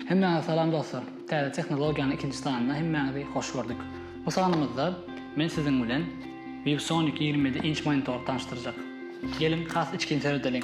Hemmäňize salam dostlar. Täze tehnologiýanyň ikinji sanyna hemmäňizi hoş gördük. Bu sanymyzda men siziň bilen ViewSonic 27 inç monitory tanyşdyrjak. Geliň, has içgin seredeliň.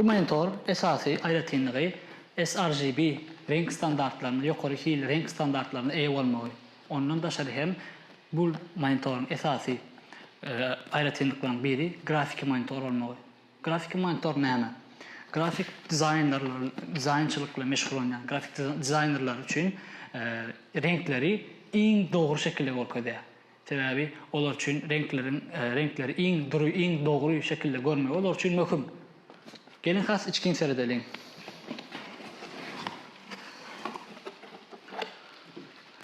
Bu monitor esasy aýratynlygy sRGB reňk standartlaryna, ýokary hil reňk standartlaryna eýe bolmagy. Ondan daşary hem bu monitoryň esasy aýratynlyklarynyň biri grafiki monitor bolmagy. Grafiki monitor näme? Grafik dizaýnerler dizaýnçylyk bilen meşgullanýan grafik dizaýnerler üçin reňkleri iň dogry şekilde görkezýär. Sebäbi olar üçin reňkleriň reňkleri iň dury, iň dogry şekilde görmegi olar üçin möhüm. Geliň has içgin seredeliň.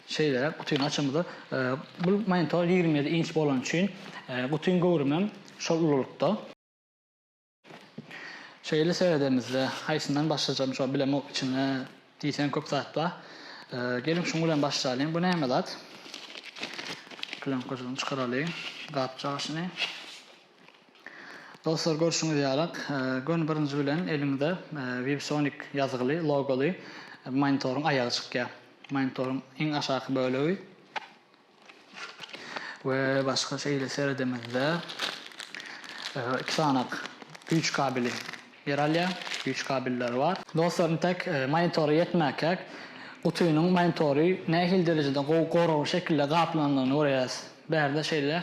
Şeýle gutyny açamyzda, bu monitor ýigrimi ýedi inç bolany üçin gutyň göwrümem şol ululykda. Şeýle seredemizde, haýsyndan başlajagym şo bilemok içinde diýseň köp zat bar. Geliň şuň bilen başlalyň. Bu näme zat? Plýonkaçydan çykaralyň gapjagaşyny. Dostlar görşüňiz ýalyk, göni birinji bilen eliňize Vibsonic ýazgyly, logoly monitoryň aýagy çykýar. Monitoryň iň aşaky bölegi. we başga şeýle seredemizde iki sanak güýç kabeli ýer alýar, güýç kabelleri bar. Dostlar intek monitora ýetmäkäk gutynyň monitory nähili derejede gowy goragly şekilde gaplanandygyny görýäris. Bärde şeýle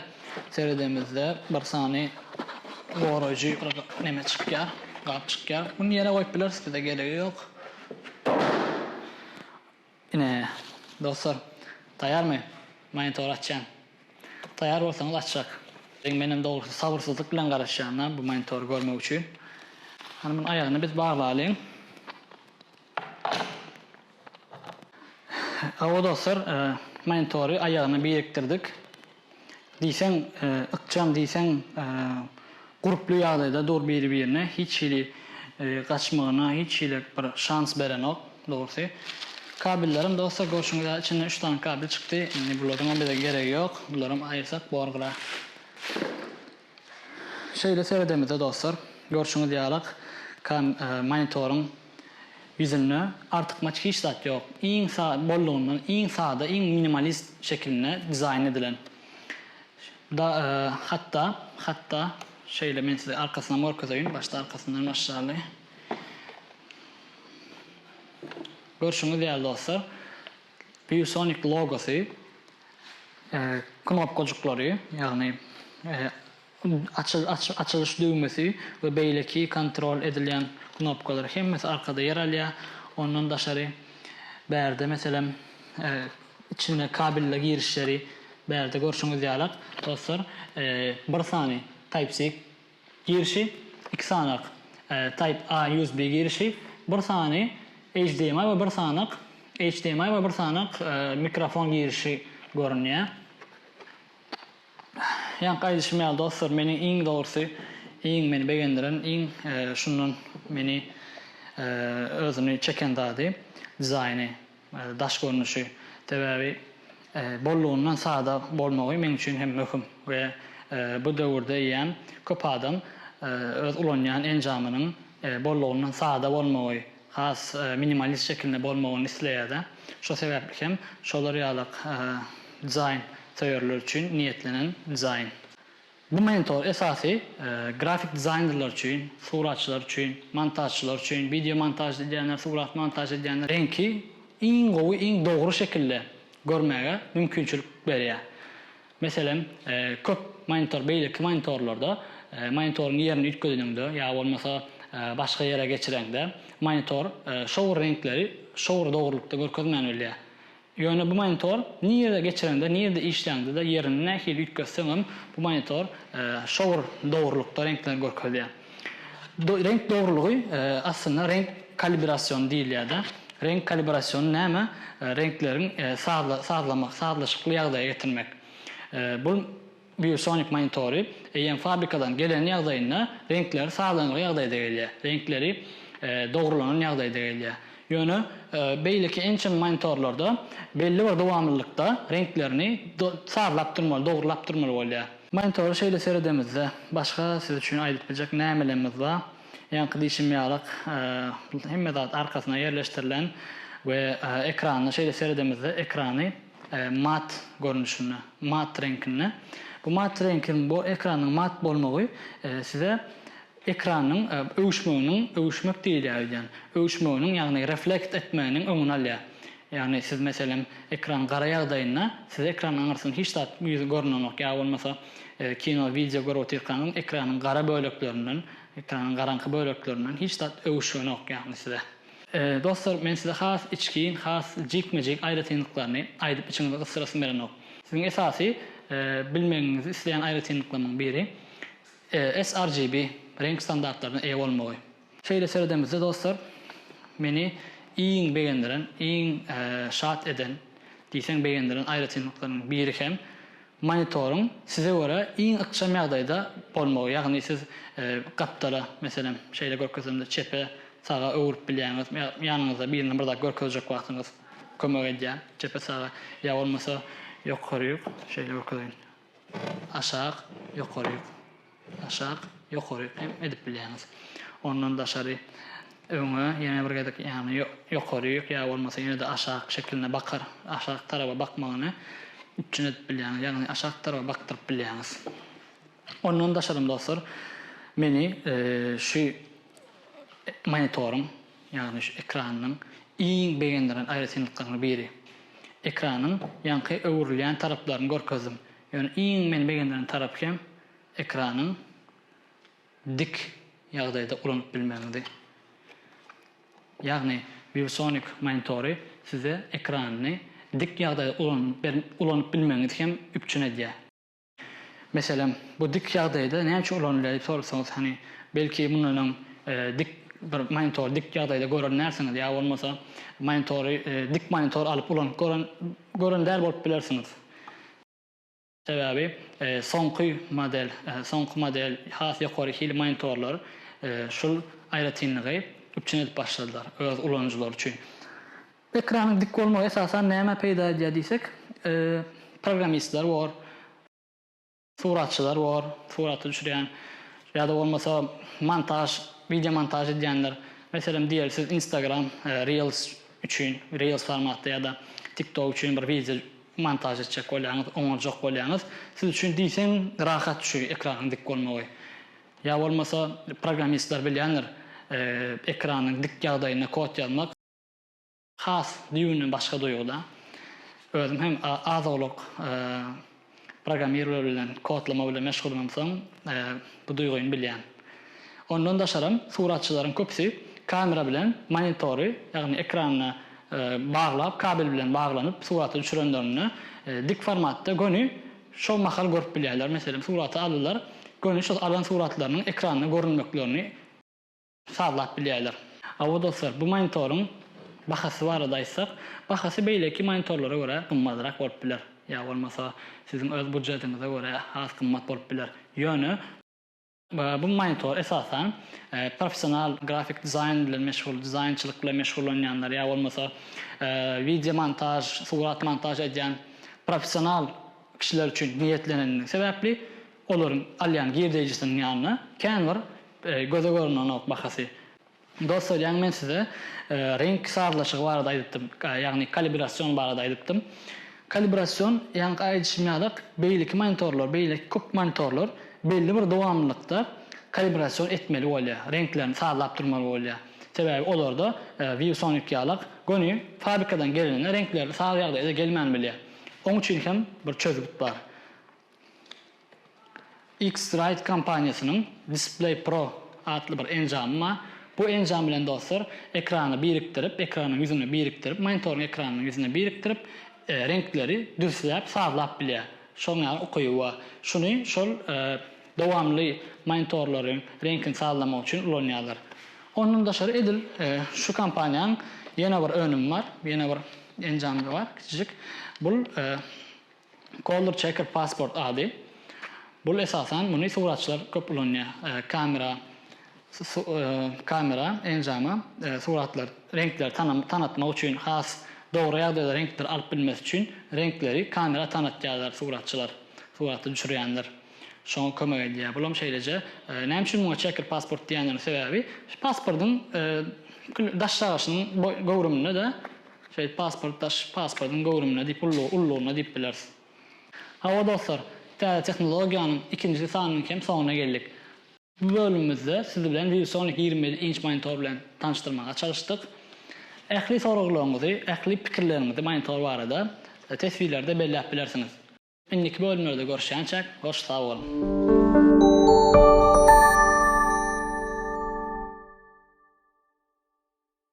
seredemizde bir sany goraýjy bir neme çykýar, gap çykýar. Muny ýere goýup bileris bize geregi ýok. Ine, dostlar, taýarmy? Monitory açýan. Taýar bolsaňyz açjak. Menem dogrusy sabyrsyzlyk bilen garaşýan-da bu monitory görmek üçin. Hany muny aýagyny biz baglalyň. Hawa dostlar, monitory aýagyna birikdirdik. Diýseň, ykjam, diýseň, gurply ýagdaýda dur biri-birine, hiç hili gaçmagyna hiç hili bir şans berenok, dogrusy. Kabellerem dostlar, görşüňiz ýaly, içinden üç sany kabel çykdy. Indi bularyňam bize geregi ýok. Bularam aýyrsak bor gyra. Şeýle seredemizde dostlar, görşüňiz ýalak kan monitoryň ýüzünde artykmaç hiç zat ýok. Iň sa bollugyndan iň sada iň minimalist şekilinde dizaýn edilen. Da hatda hatda şeýle men size arkasynam görkezeýin başda arkasyndan başlaly. Görşüňiz ýaly dostlar, ViewSonic logosy knopkajyklary, ýagny açylyş düwmesi we beýleki kontrol edilýän knopkalar hemmesi arkada ýer alýar. Ondan daşary bärde meselem içine kabelli girişleri bärde görşüňiz ýalak dostlar bir sany type-c Girişi iki sanak Type A USB girişi, bir sany HDMI we bir sanak HDMI we bir sanak mikrofon girişi görünýär. Ýaňky aýdyşym ýaly dostlar meniň iň dogrusy iň meni begendiren iň şundan meni özüni çeken zady dizaýny. Daş görnüşi, sebäbi bollugyndan sada bolmagy meň üçin hem möhüm we bu döwürde eýýäm köp adam öz ulanýan enjamynyň bollugyndan sada bolmagy, has minimalist şekilinde bolmagyny isleýär-de. Şo sebäpli hem şolar ýalak dizaýn söýerler üçin niýetlenen dizaýn. Bu mentor esasy grafik dizaýnerler üçin, suratçylar üçin, montažçylar üçin, wideo montaž edýänler, surat montaž edýänler reňki iň gowy, iň dogry şekilde görmäge mümkinçilik berýär. Meselem, köp monitor beýleki monitorlarda monitoryň ýerini üýtgedeniňde ýa bolmasa başga ýere geçireňde monitor şo bir reňkleri şo bir dogrulykda görkezmän bilýär. Ýöne bu monitor nirede geçireňde, nirede işläňde-de, ýerini nähili üýtgetseňem, bu monitor şowr dogrulykda reňkleri görkezýär. Reňk dogrulygy aslynda reňk kalibrasiony diýilýär-de. Reňk kalibrasiony näme? Reňkleriň sazlaşykly ýagdaýa getirmek. Bu Biosonic monitory eýýäm fabrikadan gelen ýagdaýynda reňkleri sazlanylgy ýagdaýda gelýär, reňkleri dogrulanan ýagdaýda gelýär. Ýöne beýleki ençeme monitorlarda belli bir dowamlylykda reňklerini sazlap durmaly, dogrulap durmaly bolýar. Monitora şeýle seredemizde, başga siz üçin aýdyp biljek nämelerimiz bar? Ýaňky diýşim ýalyk, hemme zat arkasyna ýerleşdirilen we ekranyna şeýle seredemizde, ekrany, Mat görnüşinde, mat reňkinde. Bu mat reňkiň, bu ekranyň mat bolmagy size ekranyň öwüşmeginiň, öwüşmek diýilýär öýdýän, öwüşmeginiň, ýagny reflekt etmeginiň öňüni alýar. Ýagny siz meselem ekran gara ýagdaýynda size ekranyň aňyrsyny hiç zat ýüzi görünenok ýa bolmasa kino, wideo görüp otyrkaňyz ekranyň gara böleklerinden, ekranyň garaňky böleklerinden hiç zat öwüşgenok ýagny size. Dostlar, men size has içgin, has jikme-jik aýratynlyklaryny aýdyp içiňizi gysdyrasym gelenok. Siziň esasy bilmegiňizi isleýän aýratynlyklarymyň biri sRGB reňk standartlaryna eýe bolmagy. Şeýle seredemizde dostlar, meni iň begendiren, iň şat eden diýseň begendiren aýratynlyklarynyň biri hem Monitoryň size görä iň ykjam ýagdaýda bolmagy, ýagny siz gapdala, meselem, şeýle görkezemde çepe, saga öwrüp bilýäňiz, ýanyňyzda birine bir zat görkezjek wagtyňyz kömek edýär, çepe, saga, ýa bolmasa ýokaryk, şeýle görkezeýin, aşak, ýokaryk. Aşak, ýokary hem edip bilýäňiz. Ondan daşary öňe ýene bir gezek ýagny ýokaryk ýa bolmasa ýene-de aşak şekilinde bakar, aşak taraba bakmagyny üpjün edip bilýäňiz. Ýagny aşak taraba bakdyryp bilýäňiz. Ondan daşarym dostlar meni şu monitoryň ýagny şu ekranynyň iň begendiren aýratynlyklarynyň biri. Ekranyň ýaňky öwrülýän taraplaryny görkezdim. Ýöne iň meni begendiren tarapy hem ekranyň dik ýagdaýda ulanyp bilmegiňdi. Ýagny ViewSonic monitory size ekranyny dik ýagdaýda ulanyp bilmegiňizi hem üpjün edýär. Meselem, bu dik ýagdaýda näme üçin ulanylýar diýip sorasaňyz, hany, belki mundan öň dik bir monitory dik ýagdaýda gören dälsiňiz ýa bolmasa monitory dik monitor alyp ulanyp gören däl bolup bilersiňiz. Sebäbi soňky model soňky model has ýokary hil monitorlar şul aýratynlygy üpjün edip başladylar öz ulanyjylary üçin. Ekranyň dik bolmagy esasan nämä peýda edýär diýsek, programmistler bor, suratçylar bor, suraty düşürýän ýa-da bolmasa montaž, wideo montaž edýänler, meselem diýeli siz Instagram reels üçin, reels formatda ýa-da TikTok üçin bir wideo Montaž etjek bolýaňyz, oňarjak bolýaňyz, siz üçin diýseň rahat şu ekranyň dik bolmagy. Ýa bolmasa programmistler bilýändir, ekranyň dik ýagdaýynda kod ýazmak. Has düýbünden başga duýguda. Özüm hem az-owlak programmirler bilen, kodlama bilen meşgullymsoň, bu duýgyny bilýän. Ondan daşaram, suratçylaryň köpüsi kamera bilen monitory, ýagny ekranyna baglap, kabel bilen baglanyp suraty düşürenlerinde dik formatda göni şol mahal görüp bilýärler. Meselem, suraty aldylar, göni şol alan suratlarynyň ekranda görünmeklerini sazlap bilýärler. Hawa dostlar, bu monitoryň bahasy barada aýtsak, bahasy beýleki monitorlara görä gymmadrak bolup biler, ýa bolmasa siziň öz budjetiňize görä has gymmat bolup biler. Ýöne. Bu monitor, esasan, professional grafik dizaýn bilen meşgul, dizaýnçylyk bilen meşgullanýanlar ýa bolmasa wideo montaž, surat montaž edýän professional kişiler üçin niýetlenenligi sebäpli, olaryň alýan girdeýjisiniň ýanyna kän bir göze görnenok bahasy Dost oýlaň men size reňk sazlaşygy barada aýdypdym, ýagny kalibrasion barada aýdypdym. Kalibrasion ýaňky aýdyşym ýaly beýleki monitorlar, beýleki köp monitorlar belli bir dowamlylykda kalibrasion etmeli bolýar, reňklerini sazlap durmaly bolýar. Sebäbi olarda ViewSonic ýaly göni fabrikadan gelende reňkleri saz ýagdaýda gelmän bilýär. Oň üçin hem bir çözgüt bar. X-Rite kompaniýasynyň Display Pro atly bir enjamy bar. Bu enjam bilen dostlar, ekrany birikdirip, ekranyň ýüzüne birikdirip, monitoryň ekranynyň ýüzüne birikdirip, reňkleri dürsläp, sazlap bilýär. Şonuň ýaly ukyby bar. Şuny şol dowamly monitorlaryň reňkini sazlamak üçin ulanýarlar. Ondan daşary edil şu kompaniýanyň ýene bir önümi bar, ýene bir enjamy bar kiçijik. Bu Color Checker Passport ady. Bul esasan muny suratçylar köp ulanýar. Kamera kamera enjama suratlar reňkleri tanatmak üçin has dogry ýagdaýda reňkleri alyp bilmesi üçin reňkleri kamera tanatýarlar suratçylar surata düşürýänler şoňa kömek edýär. Bul hem şeýleje näme üçin muňa checker passport diýenleriň sebäbi pasportyň daş çagyryşynyň göwrüminde-de Şeýdip pasport daş pasportyň göwrümine diýip ullugy ullugyna diýip bileris. Hawa dostlar, täze tehnologiýanyň ikinji sanynyň hem soňuna geldik. Bu bölümimizde siz bilen ViewSonic ýigrimi ýedi inç monitor bilen tanyşdyrmaga çalyşdyk. Ähli soraglaryňyzy, ähli pikirleriňizi monitor barada teswirlerde belläp bilersiňiz. Indiki bölümlerde görüşýänçäk, hoş sag boluň.